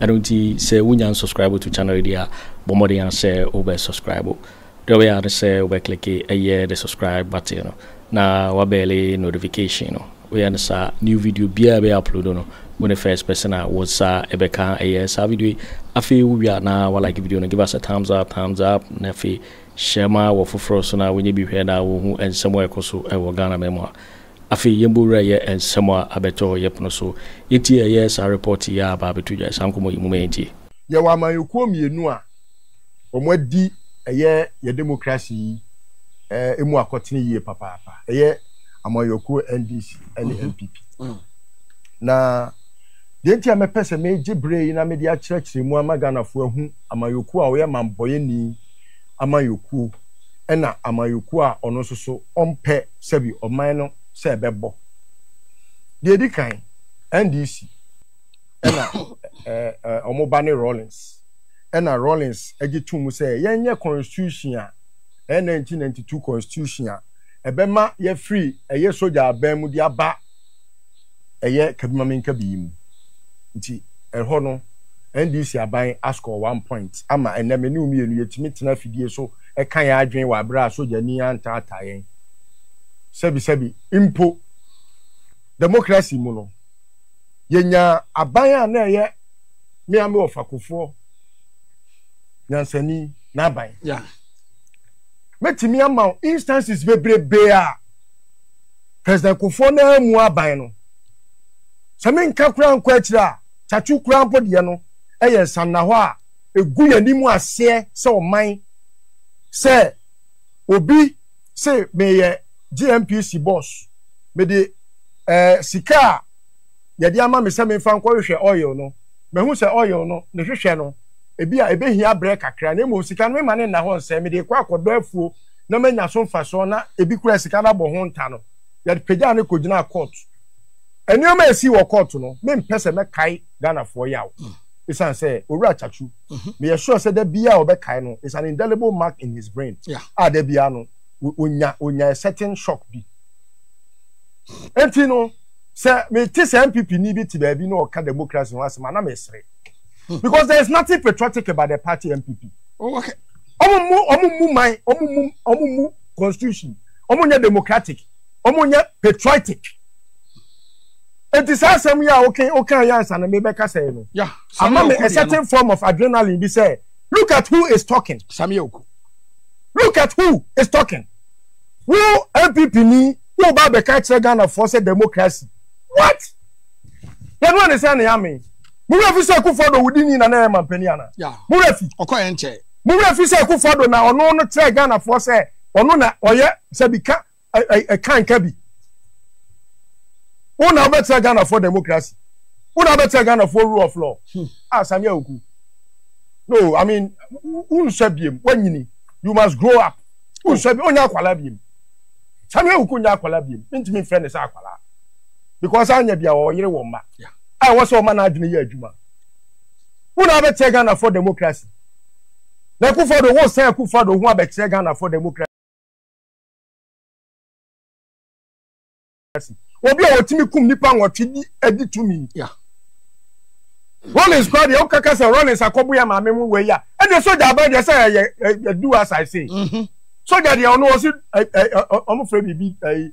Ɛno nti sɛ wonya unsubscribe to channel yi deɛ a, bɔ mmɔden ara sɛ wobɛ subscribe. Deɛ wobɛyɛ ara ne sɛ wobɛ click ɛyɛ the subscribe button no na wabɛɛle notification no. Woyɛ no saa new video biara a ɛbɛyɛ upload no, wo ne first person a wo nsa ɛbɛka ɛyɛ saa video yi. Afei wowie a na wa like video no, give us a thumbs up, thumbs up, na afei hyɛ ma wɔ foforɔ so na wɔnyɛ bi hwɛ na wɔhu nsɛm a ɛkɔ so ɛwɔ Ghana man mu a Afei yɛn bɔ wura yɛ nsɛm a abɛtɔ yɛ pono so. Yɛ tie ɛyɛ saa report yi a aba abɛto dwa saa nkɔmmɔ yi mu ma yɛn tie. Yɛwɔ amanyɔkuo mmienu a wɔn adi ɛyɛ yɛ democracy yi ɛmu akɔtene yie papaapa. Ɛyɛ amanyɔkuo NDC ɛne NPP. Na deɛ nti a mɛpɛ sɛ megye berɛ yi na mede akyerɛkyerɛ mu ama Ghanafoɔ ahu amanyɔkuo a ɔyɛ manbɔyɛni amanyɔkuo ɛna amanyɔkuo a ɔno nso so ɔmpɛ sɛbi ɔman no sɛ ɛbɛbɔ. Deɛ ɛdi kan, NDC ɛna ɛɛ wɔn ba ne Rawlings ɛna Rawlings gye to mu sɛ yɛnyɛ constitution a ɛyɛ 1992 constitution a ɛbɛma yɛafiri ɛyɛ sogya aban mu de aba ɛyɛ kabimamenkabi yi mu nti ɛhɔ no NDC aban ascore one point ama ɛnnɛ me ne wo mmienu yɛtumi tena afidie so ka yɛn adwene wɔ aberɛ a sogyani antaataa yɛn sɛbisɛbi mpo democracy mu no yɛnyaa aban a na ɛyɛ me ame ɔfakofoɔ nyansani n'aban. Yeah. Mɛtumi ama wo instances bebrebe a. President Kufuor no ara mu aban no. Sɛ menka koraa nkɔ akyiri a, Tsatsu koraa mpo deɛ no yɛ nsannahɔ a ɛgu yɛn anim aseɛ sɛ ɔman. Sɛ obi se meyɛ GNPC boss, mede eh, sika a yɛde ama me sɛ memfa nkɔhwehwɛ oil no, mahu sɛ oil no ne hwehwɛ no, ebi a ɛbɛhia berɛ kakra na mmom sika no mema no nna hɔ nsɛe, mede rekɔ akɔdɔ afuo na manya so mfasoɔ na ebi koraa sika no abɔ ho nta no, yɛpagyaa no kɔgyinaa kɔɔto. Nneɛma a ɛsii wɔ kɔɔto no, mempɛ sɛ mɛkae Ghanafoɔ yaw ɛsiane sɛ Owura Akyakyu, meyɛ sure sɛ da biara ɔbɛkae no, it's an indelible mark in his brain a da biara no ɔnya ɔnya a certain shock bi. Enti no, sɛ mete sɛ NPPni bi te baabi na ɔka democracy ho asɛm a, na mesere because there is nothing patriotic about the party NPP. ɔmo mu ɔmo mu man ɔmo mu ɔmo mu constitution ɔmo nyɛ democratic ɔmo nyɛ patriotic eti saa asɛm yi a wokan wokan yɛ ansa na mebɛka sɛ no ama me a certain form of adrenaline bi sɛ look at who is talking Samia Oku look at who is talking wo npp ni wo ba bɛka kyerɛ ghanafoɔ sɛ democracy what. yɛnua ne sɛ ne ame mo werɛ fi sɛ akufo adɔ wodi ni na na ɛyɛ mampanin ana mo werɛ fi ɔkɔ yɛn kyɛ mo werɛ fi sɛ akufo adɔ na ɔno no kyerɛ ghanafoɔ sɛ ɔno na ɔyɛ sɛ bi ka ɛka nka bi wo na wobɛkyerɛ ghanafoɔ democracy wo na wobɛkyerɛ ghanafoɔ rule of law hmm. a ah, samia oku no i mean wonsua biem wanyini you must grow up wonsua biem onya akwala biem samia oku nya akwala biem mentumi mfrɛ ne sɛ akwala because anya bia ɔyere wɔ mma a ɛwɔ sɛ ɔma n'adwene yɛ adwuma wo na abɛkyerɛ Ghana for democracy na Akufo do wo sɛn Akufo do ho abɛkyerɛ Ghana for democracy obi a wɔtumi kum nipa nwɔtwe di adi tumi Rollins kora deɛ wokaka sɛ Rollins akɔbo yɛ maame mu wei a ɛdeɛ sogya aba deɛ sɛ ɛyɛ ɛdu as I say sogya deɛ ɔno ɔsi ɔmo fɛ biribi ɛyi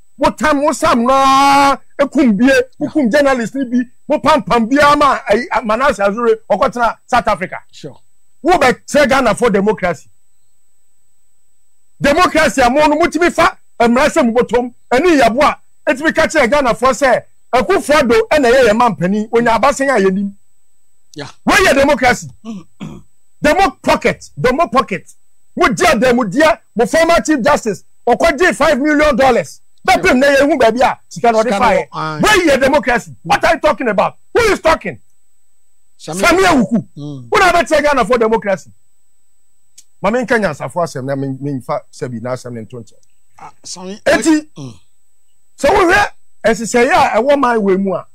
mo tam mo sam no ara ekum bie mo kum journalist ni bi mo pampam biara ma ayi manase azure ɔkɔtena south africa wo bɛ kyerɛ ghana for democracy democracy a mo no mo tumi fa mmara sɛ mo bɔtɔm ɛne yabo a etumi ka kyerɛ ghana for sɛ akufo ado ɛna ɛyɛ yɛn mampanin onya abasen a yɛn nim wɔyɛ democracy demo pocket demo pocket mo gye adamudeɛ mo former chief justice ɔkɔ gye five million dollars bɛ pem na yɛn hu baabi a sika na ɔde fa yɛ wei yɛ democracy what are you talking about who is talking sami awuku wọn na bɛ tiɛ ghana for democracy maame nka nyansafo asɛm na mi nfa sɛbi na asɛm ne nto nkyɛn ah, eti mm. sɛ wohwɛ ɛsesɛyɛ a ɛwɔ man wɔ mu a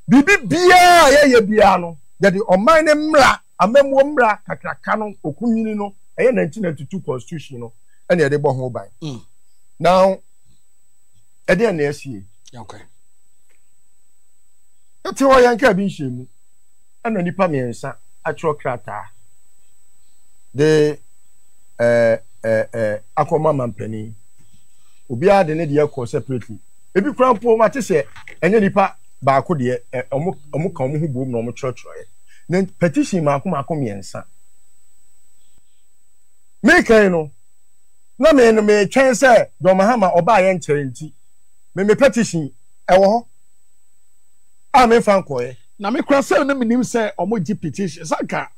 biribi biara a yɛyɛ biara no yɛde ɔman ne mmra. amammuo mmra kakraka no okunini no ɛyɛ 1992 constitution no ɛna ɛde bɔ ho ban mm. now ɛdeɛ na ɛsie okay. ɛte hɔ yɛn kaa bi nhyɛ mu ɛna nipa mmiɛnsa atwerɛ krataa de ɛɛ ɛɛ ɛɛ akɔma mampanin obiara de ne deɛ kɔ separately ebi kura mpo ma te sɛ ɛnyɛ nipa baako deɛ ɛ ɔmo ɔmo ka ɔmo ho bom na ɔmo kyerɛkyerɛ yɛ. na petition mako mako mmiɛnsa mekan no na me no metwɛn sɛ John Mahama ɔbaa yɛ nkyɛn nti me me petition ɛwɔ hɔ a memfa nkɔɛ na me kora sɛ no menim sɛ ɔmo gye petition sanka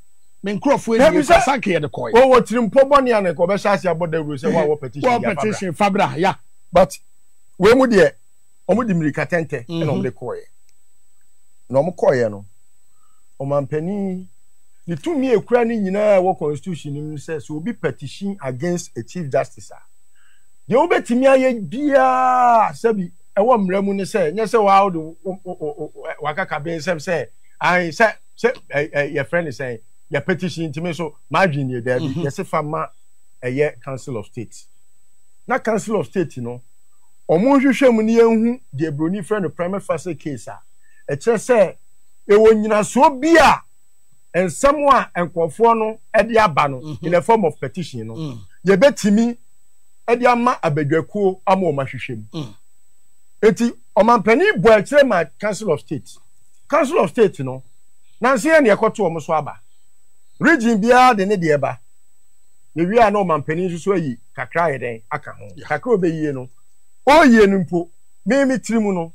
me nkurɔfoɔ ɛnie kora sanka yɛde kɔɛ wɔwɔ tirimpɔ bɔne a na nka ɔbɛhyɛ ase abɔ dawuro sɛ wɔawɔ petition wɔwɔ petition fabra ya but wei mu deɛ wɔde mmirika tɛntɛ na mhm. wɔde kɔɔeɛ na wɔn kɔɔeɛ no ɔmampanin ne tumi ekura ne nyinaa wɔ constitution no mu sɛ sɛ obi petition against a chief justice a deɛ wobɛtumi ayɛ biara sɛbi ɛwɔ mmerɛ mu ne sɛ nyɛ sɛ waa wode wakaka bɛ nsɛm sɛ ae sɛ sɛ yɛfrɛ ne sɛn yɛ petition ntumi so madwene yɛ daabi mhm. yɛse fa ma ɛyɛ council of state na council of state no Wɔn nhwehwɛmu no yɛnhu deɛ broni frɛ no prima facie case a ɛkyerɛ sɛ yɛwɔ nyinasoɔ bi a nsɛm a nkorɔfoɔ no de aba no in the form of petition no yɛbɛtumi de ama abadwakuo ama wɔn ahwehwɛ mu nti ɔmampanin bɔ akyire ma council of state council of state no nanso yɛn na yɛkɔto wɔn so aba region biara de ne deɛ ba Yɛwie a na ɔmampanin nso so ayi kakra ayɛ dɛn aka ho. Kakra a ɔbɛyie no, ɔrewie no mpo, me me tiri mu no,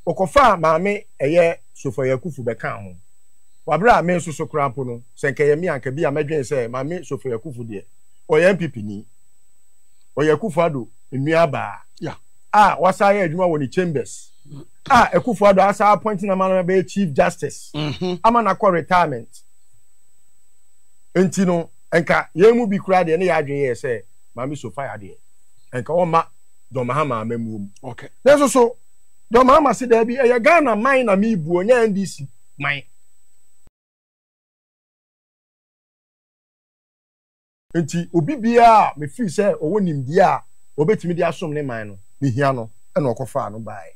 ɔkɔfaa maame ɛyɛ Sofoe Akufu bɛkaa ho. Wɔ aberɛ a me nso so koraa mpo no, sɛ nka ɛyɛ me a, nka bi a mɛdwene sɛ maame Sofoe Akufu deɛ, ɔyɛ NPP ni. Ɔyɛ Akufo Addo nuabaa a wasan ayɛ adwuma wɔ ne Chambers a Akufo Addo asan appoint no ama no abɛyɛ Chief Justice ama no akɔ retirement. Nti no, Anka yɛn mu bi koraa deɛ ne yɛn adwene yɛɛ sɛ Maame Sophia deɛ, anka wɔmma John Mahama amammuo mu. Nanso so John Mahama se daabi, ɛyɛ Ghana man na mebuo, nyɛ NDC man. Enti obi biara a mefili sɛ ɔwɔ nimdeɛ a ɔbɛtumi de asom ne man no, mehia no, ɛna ɔkɔfaa no baeɛ.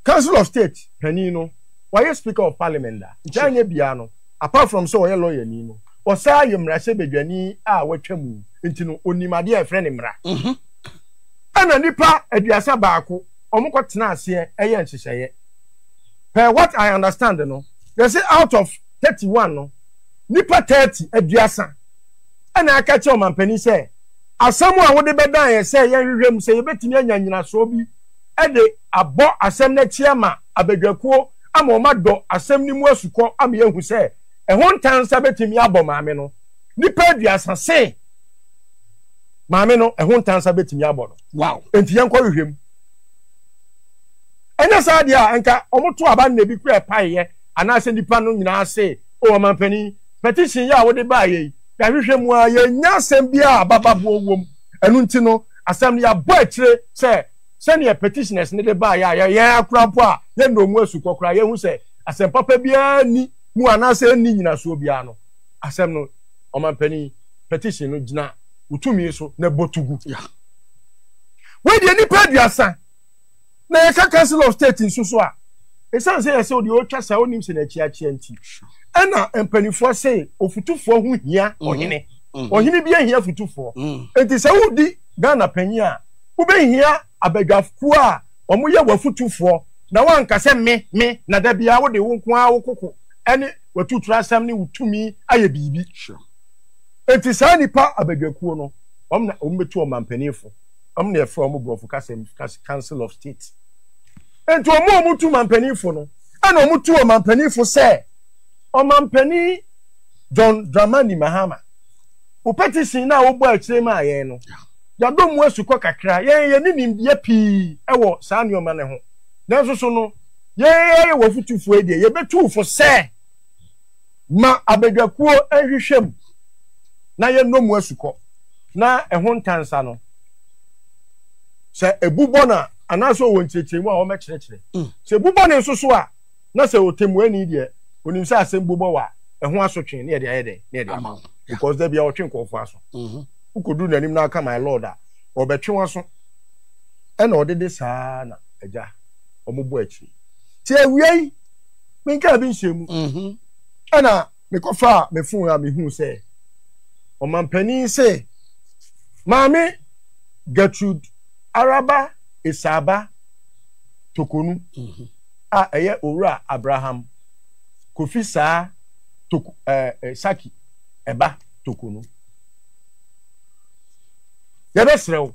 Council of State panin no, wayɛ Speaker of Parliament da, nti anyɛ biara no, Apart from sɛ ɔyɛ lɔyani no, ɔsan yɛ mmarahyɛbadwani a watwa mu nti no, ɔnim adeɛ a yɛfrɛ no mmara. Ɛna nnipa aduasa baako, wɔkɔtena aseɛ yɛɛ nhyehyɛeɛ. Per what I understand no, yɛse out of thirty one no, nnipa thirty, aduasa, ɛna aka akyerɛ ɔmampanin sɛ, asɛm a wode bɛdan yɛn sɛ yɛnhwehwɛ mu sɛ yɛbɛtumi anya nnyinasoɔ bi de abɔ asɛm no akyi ama abadwakuo ama wɔadɔ asɛm no mu asukɔ ama yɛahu sɛ ɛho ntansa betumi abɔ maame no. Nnipa aduasa se maame no ɛho ntansa betumi abɔ no. Wow. Enti yɛnkɔhwehwɛ mu. Ɛnyɛ saa deɛ a, nka wɔto aba nna bi kura ɛpaeɛ anaasɛ nnipa no nyinaa se, o ɔmampanin, petition yi a wode baeɛ yi, yɛahwehwɛ mu ara, yɛnnya asɛm biara a abababoɔ wom. Ɛno nti no, asɛm no yɛabɔ akyire sɛ sɛnea petitioners no de baeɛ a yɛ- yɛn akora mpo a yɛnnɔɔ mu asukɔ koraa, yɛahu sɛ asɛm papa biara nni mu anaasɛ ɛnni nnyinasoɔ biara no, asɛm no, Ɔmampanin, petition no gyina wo tumi so na bɔ to gu. Yeah. Wei deɛ nnipa aduasa na yɛka Council of State nso so a, ɛsiane sɛ yɛsɛ deɛ ɔretwa saa ɔnim sɛ n'akyiakyia nti, ɛna mpanimfoɔ se ofutufoɔ ho hia ɔhene. Ɔhene bi ahia futufoɔ. Enti sɛ wodi Ghana panyin a, Wobɛhia abadwafokuo a wɔyɛ w'afotufoɔ na wɔanka sɛ me, me, na da biara wode wo nko ara wo koko ne w'atuturasɛm ne wo tumi ayɛ biribi. Enti saa nnipa abadwakuo no, wɔn na wɔbɛtu ɔmanpanimfo. Wɔn na yɛfrɛ wɔn borɔfo kasa mu Council of State. Enti wɔn a wɔtu manpanimfo no, ɛna wɔtu ɔmanpanimfo sɛ ɔmanpanin John Dramani Mahama. Wo petition no a wobɔ akyire maa yɛn no, Yɛadɔ mu asukɔ kakra. Yɛn, yɛnni nimdeɛ pii wɔ saa nneɛma no ho. Nanso so no yɛyɛ w'afotufo yi deɛ, yɛbɛtu wo fo sɛ, Ma abadwakuo nhwehwɛ mu na yɛnnɔ mu asukɔ, na ɛho ntansa no, sɛ ɛbu bɔne a, anaasɛ ɔwɔ nkyerɛkyerɛmu a wɔbɛkyerɛkyerɛ. Sɛ ɛbu bɔne nso so a, na sɛ ɔtɛmmuani deɛ ɔnim sɛ asɛm bobɔ wɔ a ɛho asotwe ne yɛde ayɛ dɛn ne yɛde ama because da bia ɔtwe nkurɔfoɔ aso mhm. wokɔduru n'anim na aka my lord a ɔbɛtwe waso ɛna ɔde de saa na agya ɔmobɔ akyiri nti awiei menkaa bi nhyɛ mu mhm. ɛna mekɔfaa me fon a mehuu sɛ ɔmampanin se maame Gertrude Araba Esaaba Tokonu mhm. a ɛyɛ owura Abraham Kofi Saa Toko ɛɛ eh, eh, Saki ɛba Tokonu. Yɛbɛsrɛ wo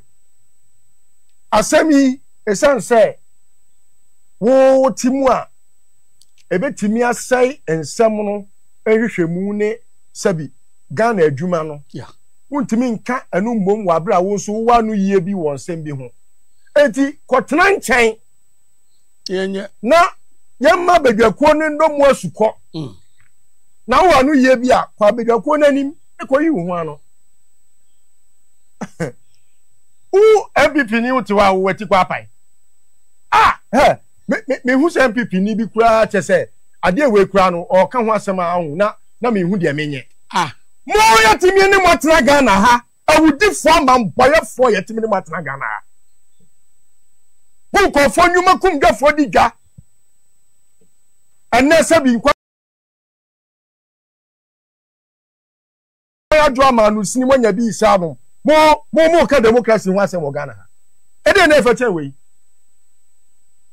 asɛm yi esiane sɛ wo ti mu a ɛbɛtumi asɛe nsɛm no nhwehwɛmu ne sɛbi Ghana adwuma no. Yeah. Wontumi nka ɛno mmom wɔ abere a wo nso wowɔ ano yie bi wɔ nsɛm bi ho. Enti kɔtena nkyɛn Yɛnyɛ. na yɛmma badwakuo no nnɔ mu asukɔ. Mm. Na wowɔ ano yie bi a, kɔ abadwakuo no anim na kɔyi wo ho ano. Wo NPP ni wote hɔ a wowɔ ti kɔ apae. Ah, hɛ! me me mehu sɛ npp ni bi koraa kyɛ sɛ adeɛ wei koraa no ɔɔka ho asɛm a ɔho na na mehu deɛ menyɛ. Ah mo yɛtumi ne mo atena Ghana ha awudifoɔ amambɔyɛfoɔ yɛtumi ne mo atena Ghana ha mo nkurɔfoɔ nnwuma kum dwafoɔ di dwa ɛnɛ sɛ bi nkwa Yaya Dramah no sini moanya bi saa no mo mo mo ka democracy ho asɛm wɔ Ghana ha ɛdeɛ na ɛfɛ kyɛn wei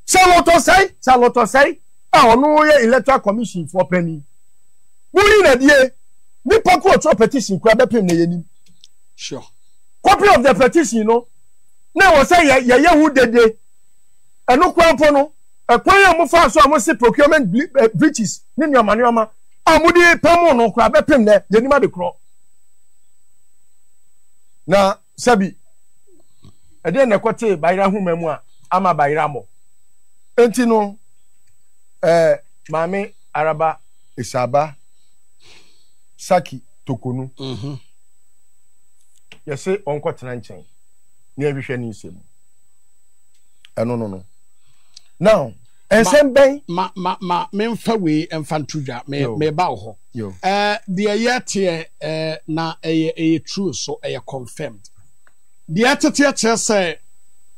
salotɔsɛe salotɔsɛe a ɔno yɛ electoral commission foɔ panyin mo yi na die nipa ko ɔtwerɛ petition kura bɛpem na yɛnim sure copy of the petition no na ɛwɔ sɛ yɛyɛ ho dede Ɛno koraa mpo no, ɛkwan a mofaa so a mose procurement breaches ne nneɛma nneɛma a mode pamoo no koraa bɛpem nɛ, yɛnim ade korɔ. Na sɛbi, ɛdeɛn na ɛkɔtee Bayerɛ ahoma mu a ama Bayerɛ amɔ? Enti no, ɛɛ, Maame Araba Esaaba Saki Tokonu, mhm. yɛse ɔnkɔtena nkyɛn na yɛhwehwɛ ne nsɛm mu. ɛno no no now nsɛm bɛn. ma ma ma memfa wei mfa nto dwa meba wo hɔ ɛɛ deɛ yɛteɛ ɛɛ na ɛyɛ ɛyɛ true so ɛyɛ confirmed deɛ ɛteteɛ kyerɛ sɛ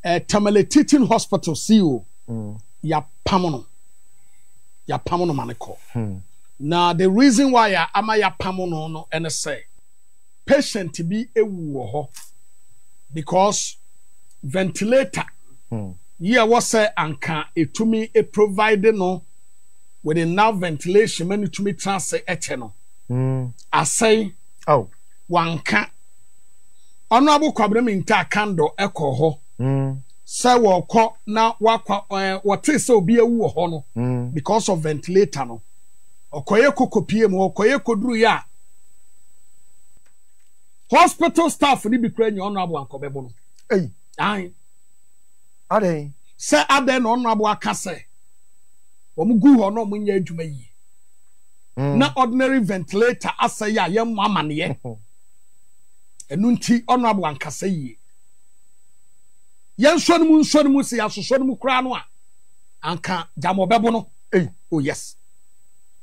ɛɛ Tamale Teaching Hospital CEO mm. yapam no yapam no ma ne kɔ hmm. na the reason why a ama yapam no no ɛne sɛ. patient bi ewu wɔ hɔ because ventilator hmm. yi a wɔsɛ anka etumi e provide no with enough ventilation ma ne tumi tena ase ɛkyɛ no hmm. asɛe oh. wanka ɔno abokwabena mi nta kando ɛkɔ hɔ hmm. sɛ wɔkɔ na wakɔ ɛɛ eh, wɔte sɛ obi ewu wɔ hɔ no because of ventilator no ɔkɔyɛ kokopie mu ɔkɔyɛ koduru yɛ a. hospital staff no bi kura nya ɔno aboa nkɔbɛbo no eyi ayi adɛn sɛ adɛn na ɔno aboa ka sɛ wɔn gu hɔ na wɔn nyɛ adwuma yie hmm. na ordinary ventilator asɛ yɛ a yɛn mu amaneɛ ɛnu nti ɔno aboa nkasa yie yɛn nsɔ no mu nsɔ no mu sɛ yɛasosɔ no mu koraa no a anka gyama ɔbɛbo no eyi oh yes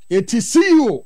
eti ceo.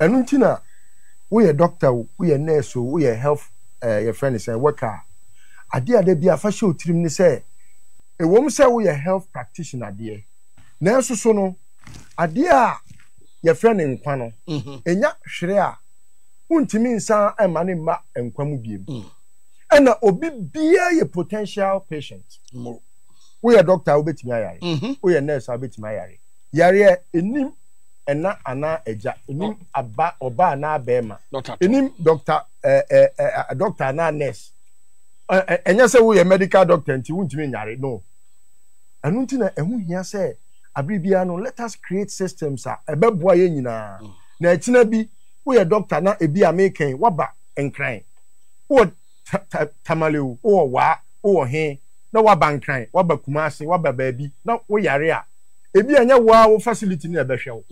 Ɛno nti na woyɛ doctor o, woyɛ nurse o, woyɛ health eh, yɛfrɛ no sɛ worker a, adeɛ a da bi a fa hyɛ wo tirim ne sɛ, ɛwom sɛ woyɛ health practitioner deɛ, nanso so no, adeɛ a yɛfrɛ no nkwa no, ɛnya hwere a, wontumi nsan mma no mma nkwa mu biom. Ɛna obi biara yɛ potential patient. Woyɛ doctor a, wobɛtumi ayare. Woyɛ nurse a, wobɛtumi ayare. Yareɛ, ɛnim ɛna anaa agya, ɛnim aba ɔba anaa bɛrima, ɛnim dɔkta dɔkta anaa nurse. Ɛnyɛ sɛ woyɛ medical doctor nti wontumi nyare, no. Ɛno nti na ɛho hia sɛ abere biara no let us create systems a ɛbɛboa yɛn nyinaa. Na ɛkyena bi woyɛ dɔkta na ebi a mekɛn waba nkran. ta ta tamale o, wowɔ waa, wowɔ he, na woaba Nkran, woaba Kumase, woaba baabi, na woyare a, ebi a ɛnyɛ wo ara wo facility no na ɛbɛhwɛ wo.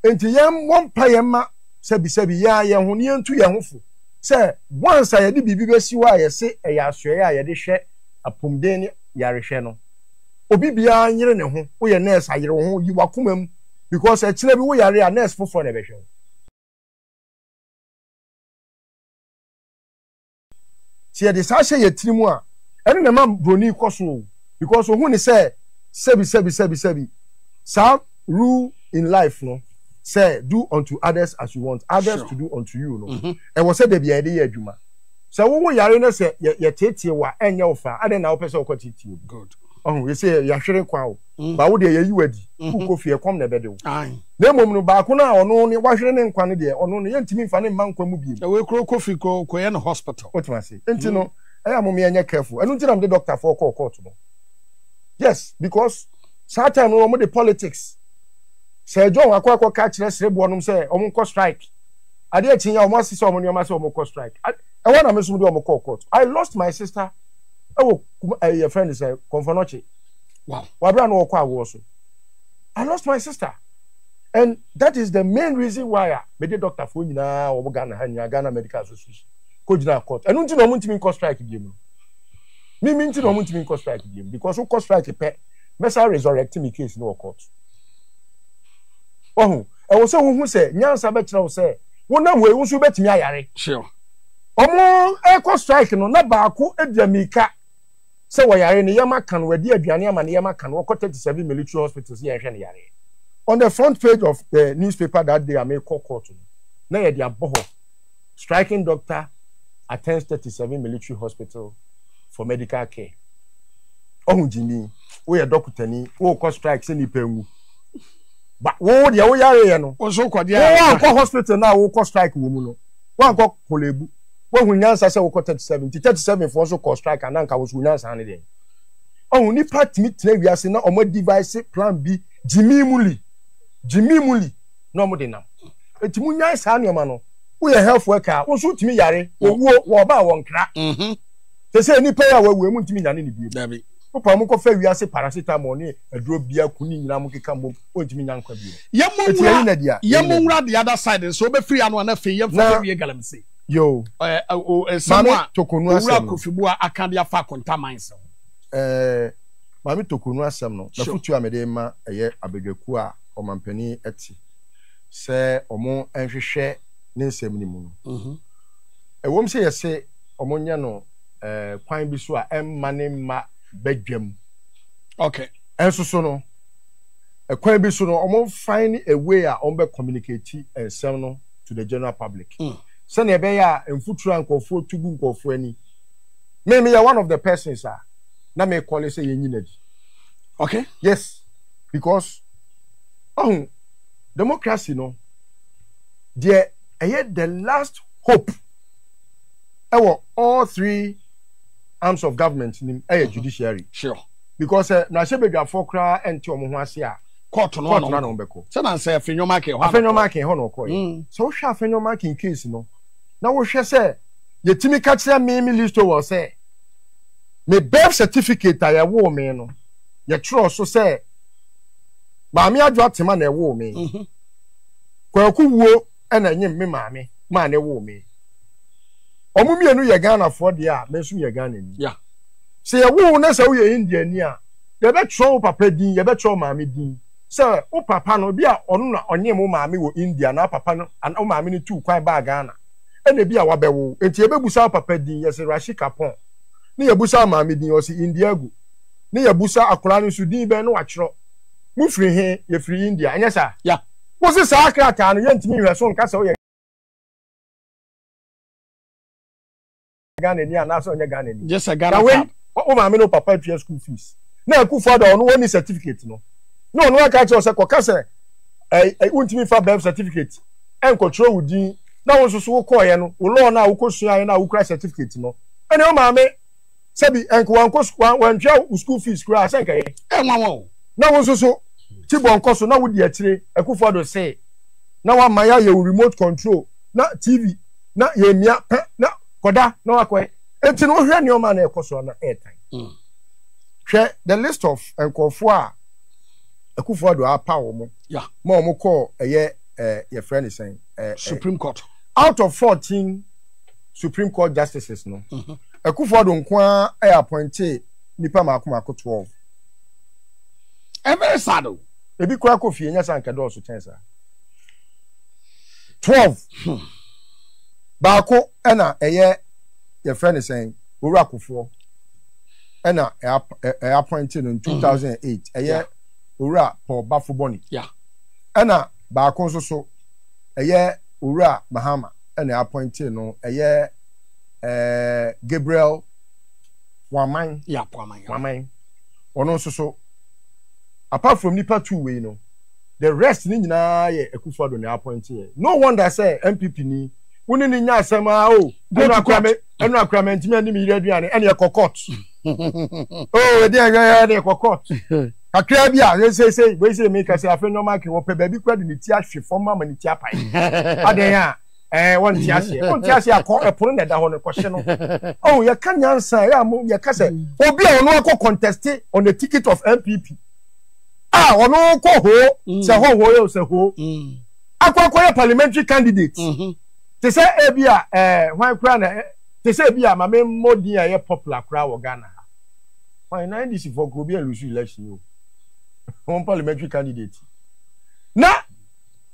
Enti yɛmmɔ mpaeɛ mma sɛbisɛbi yɛn ara yɛn ho, na yɛntu yɛn ho fo sɛ once a yɛde biribi bɛsi hɔ a yɛse ɛyɛ asoɛeɛ a yɛde hwɛ apomden ne yarehwɛ no, obi biara nyere ne ho, woyɛ nurse a, yere wo ho, yi w'akoma mu because ɛkyena bi woyare a, nurse foforɔ na ɛbɛhwɛ wo. Sɛ yɛde saa hyɛ yɛn tirim a, ɛno na ɛma buroni kɔ so o, because ohu ne sɛ sɛbi sɛbi sɛbi sɛbi. Saa rule in life no, sɛ do unto others as you want others to do unto you no, mhm. ɛwɔ sɛ da bia yɛde yɛ adwuma. Sɛ wowo yare no sɛ yɛteetee wo a ɛnyɛ wo fa, adɛn na wopɛ sɛ wokɔteetee obi? Ɔho, yɛsɛ yɛahwere kwa o. mm. ba wo deɛ yɛyi wo adi mm-hmm. wokɔ fie ɛkɔm na ɛbɛde wo na mmom no baako no a ɔno ne wahwere ne nkwa no deɛ ɔno no yɛntumi mfa ne mma nkwa mu biem ɛwɔ kuro kɔ fi kɔ kɔyɛ no hospital wotumi ase nti no mm. ɛyɛ mo meɛnyɛ careful ɛno nti na mede doctor foɔ kɔɔ court no yes because saa time no wɔn de politics sɛ john akɔ akɔ ka kyerɛ sereboɔ nom sɛ wɔn nkɔ strike adeɛ akyi ya wɔn asesa wɔn nneɛma sɛ wɔn kɔ strike ɛwɔ na me nso de wɔn kɔɔ court i lost my sister ɛwɔ ɛyɛ fɛn de sɛ kɔnfɔnɔkye. Wow. Wabra no ɔkɔ awoɔ so. I lost my sister and that is the main reason why a mede doctor foɔ nyinaa wɔn Ghana ha nyinaa Ghana Medical Association kɔ gyina court. Ɛno nti na wɔn ntumi nkɔ strike biem no. Mimi nti na wɔn ntumi nkɔ strike biem because wokɔ strike pɛ mɛsa resurrect me case no wɔ court. Wahu ɛwɔ sɛ wohu sɛ nyansa bɛkyerɛ wo sɛ wonam wei wo nso wobɛtumi ayare. Sure. Wɔn ɛkɔ strike no na baako adwa mmirika. sɛ wɔyare no yɛma ka no wɔadi aduane ama no yɛma ka no wɔkɔ thirty seven military hospital sɛ yɛnhwɛ no yareɛ on the front page of the newspaper that day a mekɔ court no na yɛde abɔ hɔ striking doctor attends thirty seven military hospital for medical care ɔho gyimi woyɛ dɔkotani wokɔ strike sɛ nipa nwu ba wo deɛ woyareɛ no wonkɔ hospital no a wokɔ strike wɔ mu no woankɔ Korlebu, woahu nyansa sɛ wokɔ 37 nti 37 foɔ nso kɔɔ strike a na nka wo nso wo nyansa ne deɛn? Ɔho nnipa tumi tena wiase na ɔmo adivise plan bi gyimii mu li, gyimii mu li na ɔmo de nam. Nti mo nyae saa nnoɔma no. Woyɛ health worker a wo nso wotumi yare, owuo wɔ ɔba a wɔ nkra. Sesei nnipa yi a wɔawu yi ɔmo ntumi nyane no bio. Wopɛ a ɔmo kɔ fɛ wiase paracetamol ne aduro biako ne nyinaa ɔmo keka mmom. ontumi nya nkwa bio. Yɛn mo nwura yɛn mo nwura the other side nso wobɛfiri ano a na afei yɛn fɛfɛ wie galamsey. Yoo. Ɛɛ o nsɛm a owura kofi bu a aka de afa akonta mines ho. Ɛɛ maame tokonu asɛm no nafutuo a mede ma ɛyɛ abadwakuo a ɔmampanin te sɛ wɔn nhwehwɛ ne nsɛm no mu no ɛwom sɛ yɛse wɔn nyɛ no ɛɛ kwan bi so a ɛmma ne mma badwam. Okay. Ɛnso so no. Ɛkwan bi so no, ɔmo find a way a ɔmo bɛ communicate nsɛm no to the general public. Sɛnea ɛbɛyɛ a mfuturo a nkorɔfoɔ tu gu nkorɔfoɔ ani. Me, meyɛ one of the persons a na me kɔle sɛ yɛnyi no adi. Okay. Yes, because ɔho democracy no, deɛ ɛyɛ the last hope ɛwɔ all three arms of government nim ɛyɛ judiciary. Sure. Because sɛ mmarahyɛbadwafoɔ koraa ɛnte wɔn ho ase a, kɔɔto no ara na wɔn bɛkɔ. Sɛ na sɛ Afenyo-Markin hɔ a na ɔkɔɔ. Afenyo-Markin hɔ na ɔkɔɔɛ. Mm. Sɛ wohwɛ Afenyo-Markin case no na wohwɛ sɛ yɛtumi ka kyerɛ me me Lee Stowell sɛ me birth certificate a yɛwoo me no yɛtwerɛ so sɛ Maame Adwoa Tema na ɛwoo me. Mm-hmm. Kwaku wuo. ɛna ɛnyem me maame maa ne woo me wɔn mmienu yɛ ghanafoɔ deɛ a me nso meyɛ ghanani yeah. sɛ yɛwo wo na sɛ woyɛ indiani a yɛbɛtwerɛ wo papa din yɛbɛtwerɛ wo maame din sɛ wo papa no bi a ɔno na ɔnyem wo maame wɔ india na papa no wo maame no tuu kwan baa ghana ɛna bi a wabɛwo wo enti yɛbɛbusa wo papa din yɛse rashi kapon ne yɛbusa wo maame din ɔse indiago ne yɛbusa akwaraa no nso din bɛn ne watwerɛ mofiri he yɛfiri india ɛnyɛ saa yeah. Wose saa krataa no yɛntumi nhwɛ so nka sɛ ɔyɛ Ghanani anaasɛ ɔnyɛ Ghanani. Gye sɛ Ghana wei wo maame ne wo papa atua school fees. Na Akufo Addo a ɔno ɔnni certificate no, na ɔno aka akyerɛ wo sɛ kɔka sɛ ɛɛ wontumi fa birth certificate ɛnkɔtwerɛ wo din na wo nso so wokɔɔeɛ no wo law no a wokɔsuaeɛ no a wokura certificate no ɛne wo maame sɛbi ɛnka wɔn kɔ sukuu wɔn wɔn twɛ wo school fees koraa sɛ nka yɛ. ɛ nwa wɔn o. na wɔn nso so ti bɔ nkɔ so na wodi akyire akufo ado se na wama yɛayɛ wo remote control na tv na yɛ mia pɛ na kɔda na wakɔ ɛ eti no hwɛ nneɛma na ɛkɔ so na ɛɛtan hmm. hwɛ the list of nkɔfo a akufo ado apa wɔn ma wɔn kɔ ɛyɛ ɛɛ yɛfrɛ ne sɛn ɛɛ supreme court out of fourteen supreme court justices no. Mm -hmm. Akufo Addo nko ara ɛ appointee nipa mmaako mmaako twelve. Ɛ very sad o. Ebi koraa kɔ fie nyɛ saa nka ɛdɔɔso kyɛn saa. Twelve. Baako ɛna ɛyɛ yɛfrɛ no sɛn Owura Kofoɔ ɛna ɛ appointee no in two thousand and eight ɛyɛ Owura Paul Bafo Bɔni. Ɛna baako nso so ɛyɛ Owura Mahama ɛna ɛ appointee no ɛyɛ ɛɛ Gabriel Waman. Yap Waman. Waman. Ɔno nso so apart from nipa two wei no the rest ne nyinaa yɛ Akufo-Addo na appoint yɛ no wonder sɛ NPP ni wo ne ne nya asɛm a o ɛnu akora me ɛnu akora me ntumi ɛni mi yere aduane ɛna ɛkɔ court o ɛdi ɛyɛ ɛna ɛkɔ court kakra bi a ɛsɛsɛ wei sɛ mi kasa afɛ nneɛma akɛ wɔ pɛ baabi kura de ne ti ahwe fam ama ne ti apae adan a. ɛɛ wɔn ti aseɛ wɔn ti aseɛ akɔ ɛpono na ɛda hɔ no kɔhyɛ no ɔn oh, yɛka nyansa yɛ a mo yɛka sɛ obi a ɔno akɔ conteste on the ticket of npp a ɔno kɔ hoo mm. sɛ hɔ hoo yɛ o sɛ hoo mm. akɔ akɔ yɛ parliamentary candidate mm-hmm. te sɛ ebi a ɛɛ hwan kura na te sɛ ebi a maame mmɔden a ɛyɛ popular kura wɔ ghana ha hwan na ndc fɔ kuro bi a lusu election o wɔn parliamentary candidate na.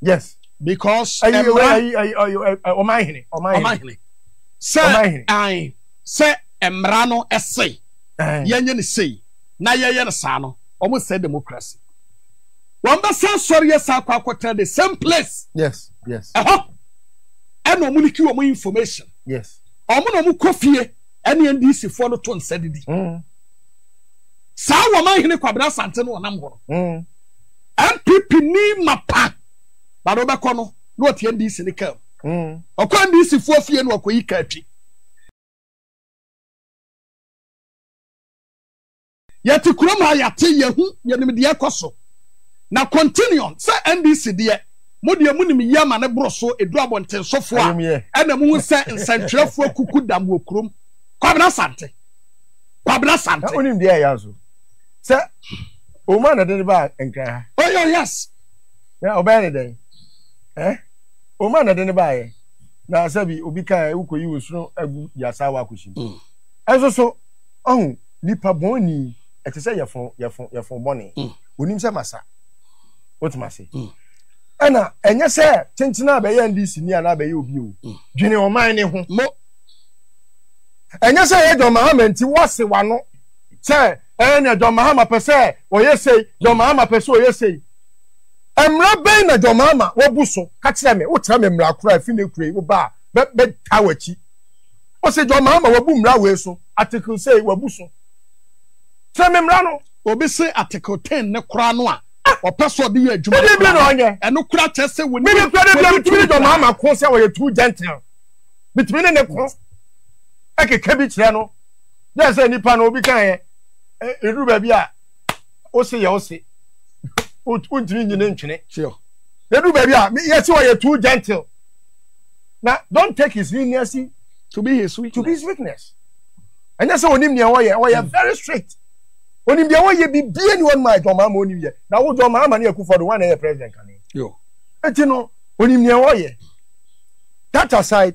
yes because ɛmra ɔman hene ɔman hene sɛ ɛn sɛ ɛmra no ɛse yɛnyɛ ne sei na yɛyɛ no saa no wɔn sɛ democracy wɔn bɛsa sɔre yɛ saa akɔ akɔtena the same place yes yes ɛhɔ ɛna wɔn liki wɔn information yes wɔn na wɔn kɔ fie ɛne ndc foɔ no to nsa didi mm. saa wɔn ahene kwabena asante no wɔnam hɔ no. Mm. NPP ni mapa ba na ɔbɛkɔ no na ɔte NDC ne kaa mu. Ɔkɔ NDC foɔ fie na ɔkɔyi kaa twi. Yɛte kurom ha yɛate yɛhu yɛnim deɛ ɛkɔ so. Na continuum sɛ NDC deɛ mo deɛ mo nim yie ama ne boro so ɛduru abɔntensofoɔ a ɛna mo hu sɛ nsɛntwerɛfoɔ kuku dam wɔ kurom. Kwabena Asante. Kwabena Asante. sɛ ɔma na ɛde ne baa nkran ha. ɔyɛ oh, yes na ɔbɛyɛ ne dɛn eh? ɔma na ɛde ne baa yɛ na sɛbi obi ka ɛ wokɔ yi nsono agu yasa wa akɔhyɛ mu mm. ɛnso so ɔho nipa bɔn ni ɛte sɛ yɛfon yɛfon yɛfon bɔne mm. onim sɛ masa wotuma se mm. ɛna ɛnyɛ sɛ tenten a bɛyɛ ndc ni anaa bɛyɛ obi o dwene ɔman ne ho ɛnyɛ sɛ yɛ dɔn mahama nti wɔse wano sɛ ɛɛ nea John Mahama pɛ sɛ ɔyɛ sei, John Mahama pɛ sɛ ɔyɛ sei. Mmara bɛn na John Mahama wabu so? Ka kyerɛ me, wokyerɛ me mmara koro a ɛfi ne kuro yi woba a, mɛ mɛtaa w'akyi. Ɔse John Mahama wabu mmara wei so, article sei wabu so. Kyerɛ me mmara no. Obi se article ten ne koraa no a, ɔpɛ sɛ ɔde yɛ adwuma no koraa, ɛno koraa kyerɛ sɛ wɔnim. Mene koraa de bia metumi ne John Mahama ko sɛ ɔyɛ too gentle. Metumi ne ne ko ɛkeka bi kyerɛ no. dɛ sɛ nipa no obi kan yɛ eduru baabi a ose yɛ ose wontumi nyi ne ntwene eduru baabi a yɛsi wɔ yɛ too gentle na don take his leniency to be his weakness to be his weakness ɛnyɛ sɛ onim nea ɔyɛ ɔyɛ hmm. very strict onim deɛ ɔyɛ bibie ni wɔn ma ɛdɔn maa ma onim yɛ na wo dɔn maa ma ne akufo do wɔn na ɛyɛ president kan eti no onim nea ɔyɛ that aside.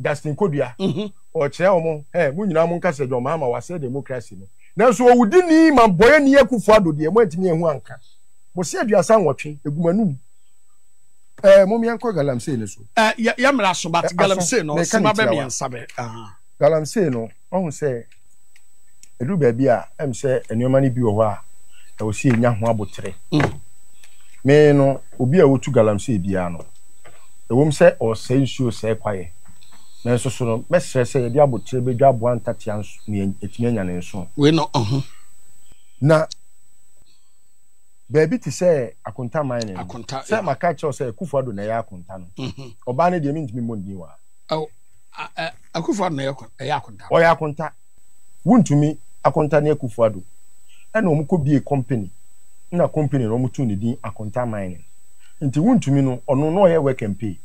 Justin Kodua, mhm. ɔkyerɛ wɔn, ɛ mo nyinaa mo nka sɛ John Mahama wasɛ demokrasi no. Nanso owudi ni ma bɔyɛ ni Akufo Ado deɛ mo antumi ahu anka. Mo se aduasa nwɔtwe, egu mo anum. Ɛ mo mmea nkɔ galamsey no so. Ɛ yɛ yɛ mmra so but galamsey no, sima bɛ mmiɛnsa bɛ. Galamsey no. Wahu sɛ ɛduru baabi a ɛm sɛ nneɛma no bi wɔ hɔ a ɛwɔ sɛ yɛnya ho abotere. Me no, obi a ɔtu galamsey biara no, ɛwom sɛ ɔresɛe nsuo sɛe kwaeɛ, nanso so no mɛsrɛ sɛ yɛde abotere bɛdwa aboa ntatea nea ɛtumi anya ne nso. Wei na ɔho. Na baabi te sɛ akonta man no, sɛ maka kyerɛw sɛ Akufo-Addo na ɛyɛ akonta no, ɔbaa no deɛ mentumi mmɔ ndin wɔ ha. Akufo Addo na ɛyɛ akon ɛyɛ akonta. Ɔyɛ akonta. Wuntumi akonta ne Akufo Addo. Ɛna ɔmo kɔ bie company na company no ɔmo too ne din Akonta Mining. Nti wuntumi no ɔno na ɔyɛ work and pay.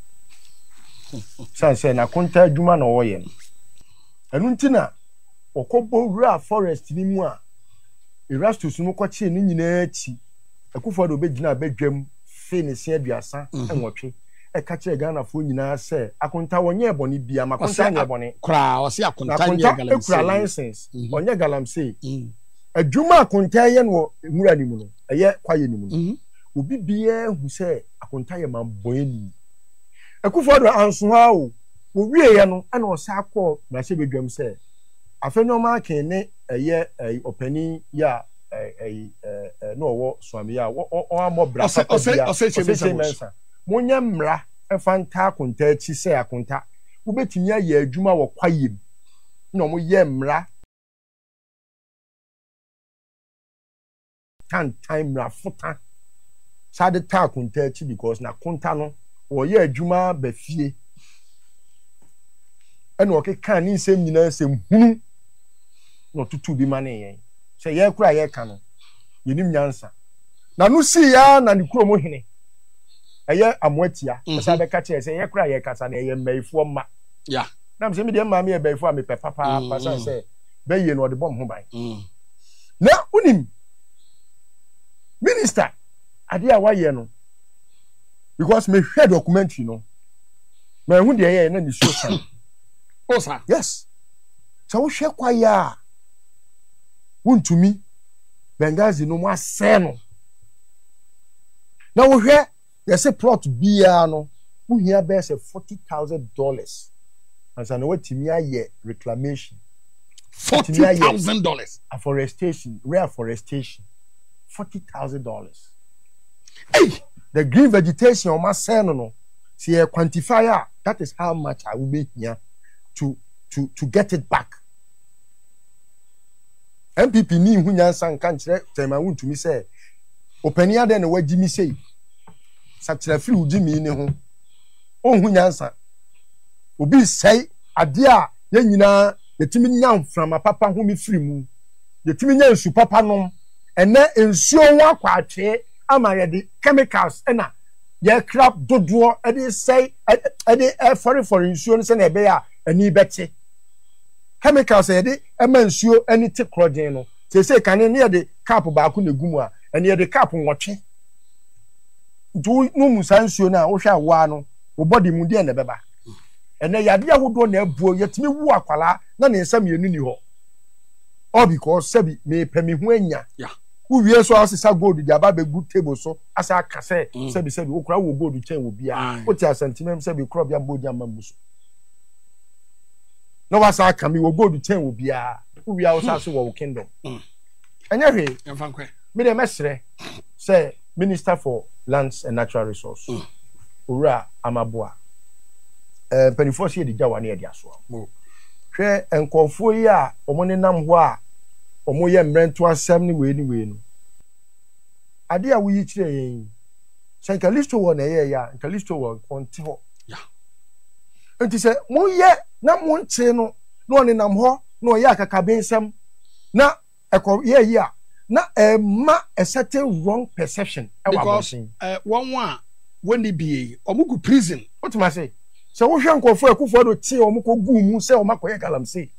San sɛ n'akonta adwuma na ɔɔyɛ no. Ɛno nti na ɔkɔ bɔ wuraa forest no mu a Erastus no kɔ kyee ne nyinaa akyi. Akufo Addo bɛ gyinaa bɛ dwam fee ne se aduasa nwɔtwe. ɛka kyerɛɛ Ghanafoɔ nyinaa sɛ Akontaa ɔnyɛɛ bɔne biara, ma Akontaa nyɛɛ bɔne na Akontaa kura license, ɔnyɛ galamsey. Adwuma a Akontaa yɛ no wɔ nwura no mu no, ɛyɛ kwaeɛ no mu no, obi biara hu sɛ Akontaa yɛ manbɔɛni. Akufo-Addo anso hɔ ara o, wɔwieɛ no na ɔsan kɔɔ mmarahyɛbadwam sɛ Afenyo Markin ne ɛyɛ ɛyi ɔpanin yi a ɛyi ɛɛ na ɔwɔ Suame yi a ɔammɔ bra papa biara, Osei Mensah. Monyɛ mmara mfa nka akonta akyi sɛ akonta. Wobetumi ayɛ adwuma wɔ kwaeɛm na wɔyɛ mmara tantan mmarafota saa de ta akonta akyi because na konta no ɔyɛ adwuma ba fie ɛna ɔkeka ne nsɛm nyinaa nsɛm hunu na ɔtoto bi ma ne yɛn sɛ yɛn kora yɛka no yɛnim nyansa na no sii ya na ne kurom hene ɛyɛ amoa tia ɛsɛ mm-hmm. abɛka kyerɛ sɛ yɛ kora yɛ kasa na ɛyɛ mmayifoɔ mma nam sɛ medeɛ mmaa meyɛ bayifoɔ a mepɛ papaapa mm-hmm. sane sɛ bɛyie no ɔde bɔ me ho ban mm. na wonim minister adeɛ a wayɛ no because mehwɛ documentary no mahu deɛ ɛyɛ na ne suo san oh, yes sɛ wohwɛ kwaeɛ a wontumi benghazi no mu asɛe no Na wohwɛ yɛse plot biara no wohia bɛyɛ sɛ forty thousand dollars ansa na watumi ayɛ reclamation. Forty thousand dollars. Afforestation, reforestation, forty thousand dollars. Hey, the green vegetation wɔn asɛn no no, sɛ yɛ quantify a, that is how much a wobɛhia to to to get it back. NPP ni nhu nyansa nka nkyerɛ tɛɛma wontumi sɛ opanin adɛn na wagye mi sei sakyera firi wo gye mii ne ho onhu nyansa obi sɛe adeɛ a yɛn nyinaa yɛtumi nya mframa papa home firi mu yɛtumi nya nsu papa nom ɛnɛ nsuo ho akɔ atwee ama yɛde chemicals ɛna yɛkra dodoɔ ɛde sɛe ɛde ɛfɔrefɔre nsuo no sɛnea ɛbɛyɛ a ani bɛte chemicals yɛde ɛma nsuo ani te korɔgyenn no. Seesei kane no, ne yɛde cup baako na ɛgu mu a, ɛnneɛ yɛde cup nwɔtwe. Nti wonom saa nsuo no a, wohwɛ a woaa no, wo body mu deɛn na ɛbɛba? Ɛnnɛ yadeɛ ahodoɔ na abuo, yɛtumi wo akwadaa na ne nsa mmienu nni hɔ, all because sɛbi mepɛ me ho anya. Wowie nso a, wosesa gold de aba abɛgu table so, asan aka sɛ sɛbi sɛbi, wo koraa wowɔ gold kyɛn obiara. Wote asɛm nti, mɛm sɛbi korɔbea mma ogya mma mmu so. na wasan aka mi wɔ gold kyɛn wɔ biara wowia wo sa so wɔ wo kingdom mm. ɛnyɛ hwee me deɛ mɛsrɛ sɛ minister for lands and natural resource mm. owura amaboa eh, mpanimfoɔ sɛ yɛde gya wa ne yɛde asoa hwɛ nkɔɔfoɔ yi a wɔn nenam hɔ a wɔn yɛ mmerɛnto asɛm ne wei ne wei no adeɛ a woyi kyerɛ yɛn yi sɛ nka listo wɔ na ɛyɛ yɛ a nka listo wɔ nkɔnte hɔ Enti sɛ moyɛ na monkyee no na ɔnenam hɔ na ɔyɛ akakabensɛm na ɛkɔ yɛ ayi a, na ɛma a certain wrong perception wɔ abɔnten. Because wɔn a wɔnni bie yi, wɔn gu prison. Wote m'ase? Sɛ wohwɛ nkorɔfoɔ a Akufo Addo tee wɔn kɔ guu mu sɛ wɔn akɔyɛ galamsey.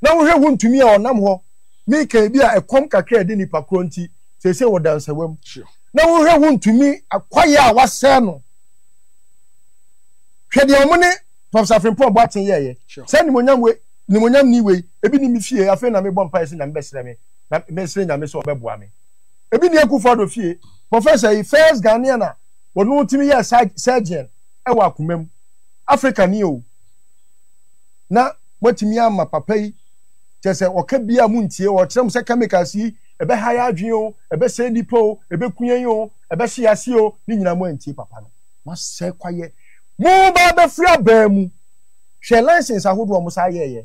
Na wohwɛ ho ntumi a ɔnam hɔ meka ebi a ɛkɔm kakra a ɛde nipa korɔ nti seesei wɔ dansawa mu. Na wohwɛ ho ntumi akwaeɛ a wasɛe no. Hwɛ deɛ wɔn ne Professor Frimpong Boateng yɛɛyɛ. Saa nimonyam wei, nimonyam ni wei, ebi ni me fie, afei na mebɔ mpaeɛ sɛ Nyame bɛsrɛ me, na mesrɛ Nyame sɛ ɔbɛboa me. Ebi ni Akufo Addo fie, Professor yi, first Ghanaian a ɔno tumi yɛɛ surgeon wɔ akoma mu, Africa ni o. na moatumi ama papa yi kyɛ sɛ ɔka bi a montie o ɔkyerɛ mo sɛ chemicals yi ɛbɛha yɛ adwene o ɛbɛsɛe nnipa o ɛbɛku yɛn o ɛbɛhye yɛ ase o ne nyinaa moantie papa no moasɛe kwayɛ moba abɛfiri abaa mu hwɛ license ahodoɔ a mo saa yɛɛyɛ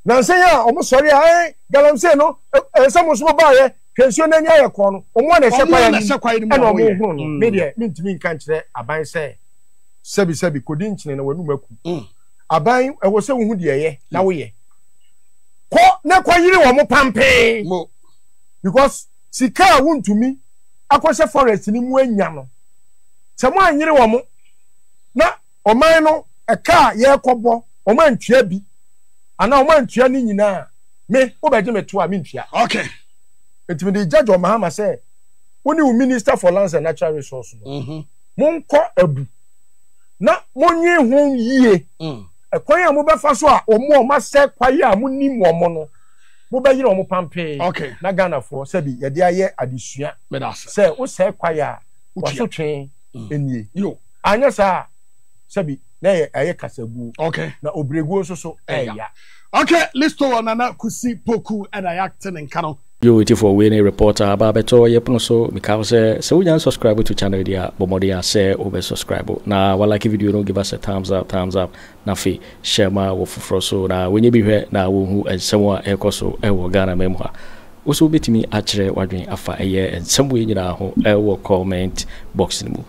nansa yi a wɔn sɔre a ɛn galamsey no ɛnsɛ mo nso mo baayɛ hwɛ nsuo no ani ayɛ kɔɔ no wɔn a na ɛhyɛ kwayɛ no ɛna wɔn hono no me deɛ mentumi nka nkyerɛ aban sɛ sɛbi sɛbi kodi nkyene na wɔnum aku. aban ɛwɔ sɛ wohu deɛ ɛyɛ na woyɛ kɔ na kɔ yere wɔn pampɛn because sika a wontumi akɔhyɛ forest no mu anya no sɛ mo anyere wɔn na ɔman no ɛka a yɛrekɔbɔ wɔn antua bi anaa wɔn antua ne nyinaa me wobɛgye me to a mentua okay nti mede gya John Mahama sɛ wo ne wo minister for lands and natural resources no mhm. monkɔ abu na monnwen ho yie. Mm. Ɛkwan a mobɛfa so a wɔn a wɔasɛ kwae a monim wɔn no, mobɛyere wɔn pampee. Okay. Na Ghanafoɔ sɛbi yɛde ayɛ adesua sɛ wosɛe kwae a wasotwe mm. nie. Yo. Anyɛ saa sɛbi na ɛyɛ ɛyɛ kasaguo. Okay. Na obreguo nso so ɛyɛ. Okay, listo wɔ Nana Kusi Poku ɛna yɛate ne nka no. Yo atifoɔ wei ne report a aba abɛtɔ yɛ pono so meka wo sɛ sɛ wonya nsubscribe to channel yi deɛ a bɔ mmɔden a sɛ wo bɛ subscribe na wa like video no give us a thumbs up thumbs up na afe share ma wɔ foforɔ so na wɔnyɛ bi hwɛ na wɔ nhu nsɛm a ɛkɔ so wɔ Ghana man mu ha wo so wobɛtumi akyerɛ wadwen afa ɛyɛ nsɛm wei nyinaa ho wɔ comment box no mu.